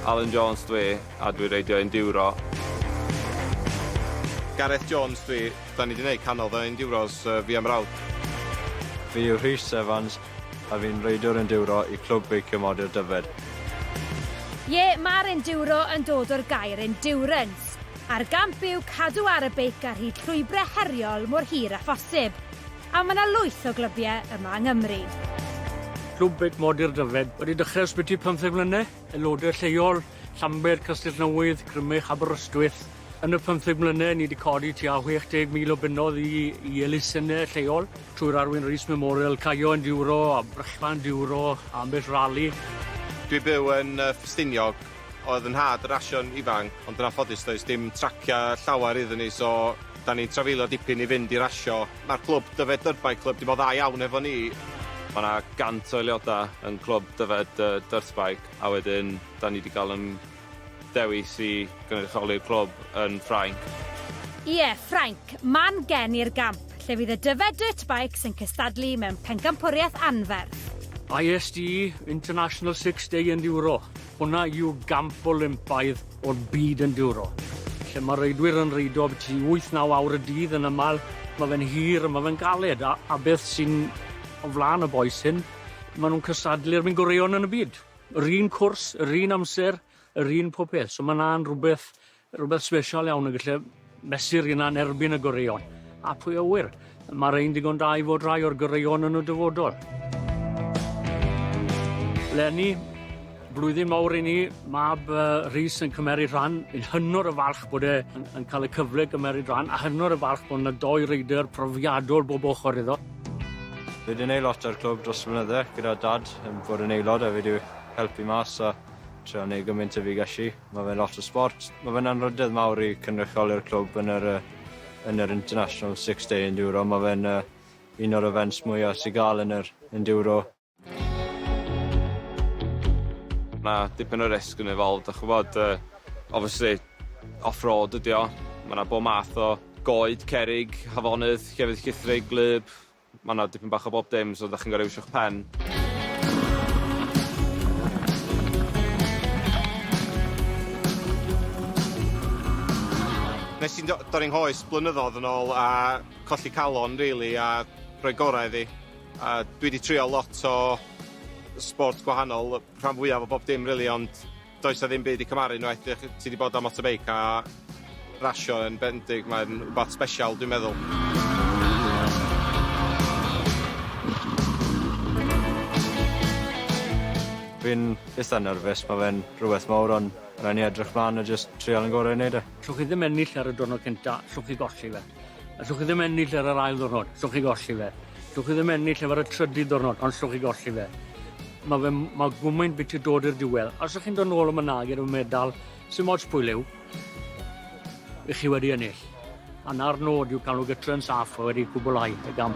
Alun Jones dw i, a dwi reidio enduro. Gareth Jones dw i, da ni di neud cannodd o enduros fi a mrawd. Fi yw Rhys Evans, a fi'n reidiwr enduro i Clwb Beicio Modur Dyfed. Ie, ma'r enduro yn dod o'r gair endurance, a'r gamp yw cadw ar y beic ar hyd llwybre heriol mor hir â phosib. A mae 'na lwyth o glybiau yma yng Nghymru. Clwb Beic Modur Dyfed wedi dechrau ysbyty pymtheg mlynedd, aelodau lleol, Llanbed, Castellnewydd, Crymych, Aberystwyth. Yn y pymtheg mlynedd, ni wedi codi tua 60,000 o bunnoedd i i elusennau lleol, trwy'r Arwyn Rees Memorial, Caio Enduro a Brechfan Enduro, a ambell rali. Dwi byw yn yy Ffestiniog, oedd yn nhad y Rashon ifanc, ond yn anffodus does dim tracia llawer iddyn ni so, Da ni'n trafeilio dipyn i fynd i rasio. Mae'r clwb Dyfed Dyrbai clwb dim ond dda iawn efo ni. Mae 'na 100 o aelodau yn clwb Dyfed Dyrtbai a wedyn da ni 'di cael yn dewis i gynrychioli'r clwb yn Ffrainc. Ie, Ffrainc, man gen i'r gamp lle fydd y Dyfed Dirtbikes yn cystadlu mewn pencampwriaeth anferth. ISD, International Six Day Enduro. Hwnna yw gamp Olympaidd o'r byd enduro, lle mae'r reidwyr yn reidio abytu i wyth, naw awr y dydd yn aml, mae fe'n hir a mae fe'n galed, a, a beth sy'n o flaen y bois hyn, maen nhw'n cystadlu'r mynd goreuon yn y byd. Yr un cwrs, yr un amser, yr un popeth, so mae 'na'n rhywbeth Rhywbeth sbesial iawn yn gallu mesur hynna'n erbyn y goreuon. A pwy a ŵyr, mae'r ein digon da i fod rhai o'r goreuon yn y dyfodol. Lenny, blwyddyn mawr i ni, mab uh, Rhys yn cymeryd rhan, yn hynod y falch bod e yn, yn cael y cyfle gymeryd rhan, a hynod y falch bod yna doi reidr profiadol bob ochr iddo. Fe dyn ei lot ar clwb dros flynydde gyda dad yn bod yn aelod a fe wedi helpu mas a trio neud gymaint y fi gallu. Mae fe'n lot o sbort. Mae fe'n anrhydedd mawr i cynrychioli'r clwb yn yr, yn yr International Six Day Enduro. Mae fe'n uh, un o'r events mwyaf sy'n gael yn yr Enduro. Mae dipyn o risg yn evolved, a chwbod, uh, obviously, off-road ydi o. Mae yna bob math o goed, cerig, hafonydd, llefydd llithrig, gwlyb, Mae yna dipyn bach o bob dim, so dach chi'n gorfod iwsio'ch pen. Nes i'n dorri nghoes blynyddoedd yn ôl a colli calon rili a rhoi gorau iddi. A dwi 'di trio lot o sport gwahanol, rhan fwyaf o bob dim rili ond Does 'na ddim byd i cymharu unwaith dych chi... ti 'di bod ar motorbike a rasio yn bendith mae'n wbath sbesial dwi'n meddwl. Fi'n itha nerfus ma' fe'n rhywbeth mowr on' rai' ni edrych mlan a jyst trial yn gore i neud e. Llwch chi ddim ennill ar y diwrnod cynta, llwch chi golli fe. Allwch chi ddim ennill ar yr ail ddwrnod, allwch chi golli fe. Allwch chi ddim ennill efo'r y trydydd ddwrnod, ond allwch chi golli fe. Mae fe, mae gwmwyn bit i dod i'r diwedd. Os ydych chi'n dod nôl am y nag i'r medal, sy'n mots pwy liw, ych chi wedi ennill. A na'r nod yw cael nhw gytre yn saff a wedi gwblhau y gam.